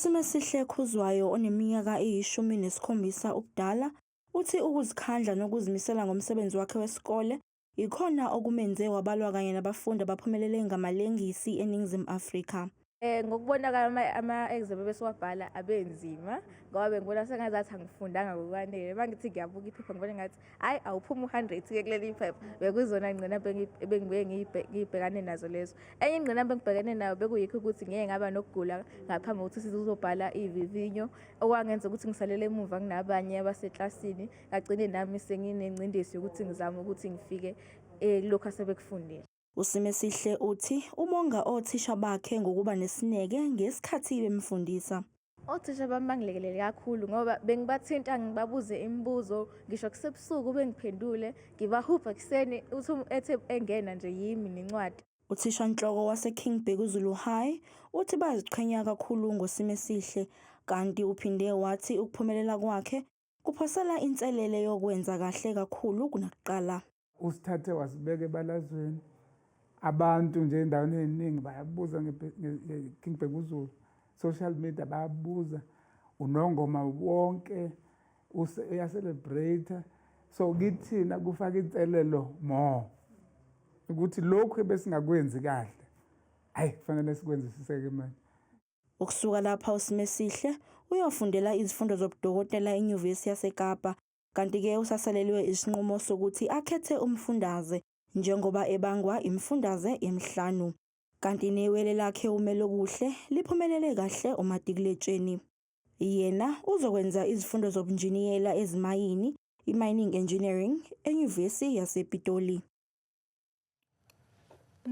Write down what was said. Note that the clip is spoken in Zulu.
Simesihle Khuzwayo oneminyaka eyishumi nesikhombisa ubudala, uthi ukuzikhandla nokuzimisela ngomsebenzi wakhe wesikole yikhona okumenze wabalwa kanye nabafundi abaphumelele ngamalengisi eNingizimu Afrika. Eh, ngokubona kwami ama-exam ebesiwabhala abenzima ngoba bengibona sengazathi angifundanga ngokwanele uma ngithi ngiyabuka iphepha ngibona ngathi hayi awuphuma u-hundred ke kuleli iphepha bekuyizona ingqinamba ebengibuye ngiyibhekane nazo lezo enye ingqinamba engibhekene nayo bekuyikho ukuthi ngeke ngaba nokugula ngaphambi kokuthi sizobhala ivivinyo okwangenza ukuthi ngisalele emuva kunabanye abaseklasini kagcine nami senginengcindezi yokuthi ngizame ukuthi ngifike eh, kulokhu asebekufundile USimesihle uthi ubonga othisha bakhe ngokuba nesineke ngesikhathi bemfundisa. Othisha bami bangilekelele kakhulu ngoba bengibathinta ngibabuze imibuzo ngisho kusebusuku bengiphendule ngibahubha ekuseni uthi ethe engena nje yimi nencwadi. Uthishanhloko waseKing Bhekuzulu High uthi bayaziqhenya kakhulu ngoSimesihle kanti uphinde wathi ukuphumelela kwakhe kuphosela inselele yokwenza kahle kakhulu kunakuqala. usithathe wasibeka ebalazweni abantu nje endaweni eziningi bayabuza ngeking bhekuzulu social media bayabuza unongoma wonke uyacelebrate so kithina kufaka inselelo more ukuthi lokhu ebesingakwenzi kahle hayi kufanele sikwenzisiseke manje Ukusuka lapha uSimesihle uyofundela izifundo zobudokotela eNyuvesi yaseKapa kanti-ke usasalelwe isinqumo sokuthi akhethe umfundaze njengoba ebangwa imifundaze emihlanu kanti newele lakhe uMelokuhle liphumelele kahle umatikuletsheni. Yena uzokwenza izifundo zobunjiniyela ezimayini, i-mining engineering, eNyuvesi yasePitoli.